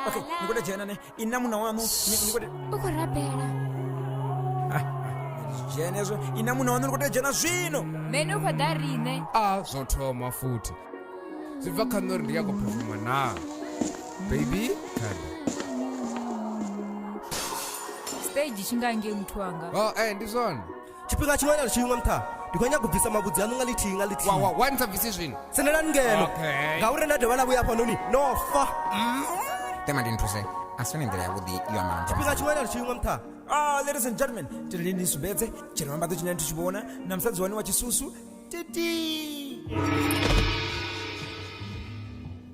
okay ndikuda jena ne ina muna wanu ndikuda ukurapera jena izvo ina muna wanu ndikuda jena zvino mene ukoda rine a zvothoma futi zwi bva kha nṋe uri ndi ya khou phofoma naa baby kana stage chingange muthu wanga o e ndi zwone tshifhinga tshiṅwe na tshiṅwe nṱha ndi khou nyanga u bvisa mavhudzi aṋu nga lithihi nga lithihi wa wa ni sa bvisi zwino tsendelani ngeno Okay. ngauri nda dovha na vhuya hafhanoni no fa tema ndi nthuse a si yone nḓila yavhuḓi yo amba na tshifhinga tshiṅwe na tshiṅwe nṱha Ah, ladies and gentlemen, tendeni ni sumbedze tsheno ambadzo tshine nithu tshivhona na musadzi wani wa chisusu titi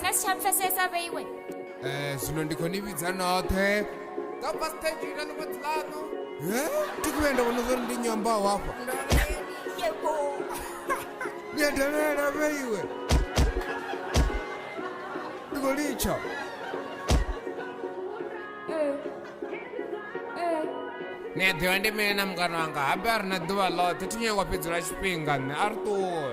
nga si tsha pfesesa vhe iwe Eh, zwino ndi khou ni vhidza noṱhe nga pa stage ina ni fhedzi ḽaṋu thi khou yenda vhona zwori ndi nyambaho hafha ni a dalela vhe iwe ndi khou litsha ni a ḓivha ndi mini na mukano wanga habe a ri na ḓuvha ḽoṱhe thi nyangwa fhedzula tshifhinga nṋe a ri ṱuwe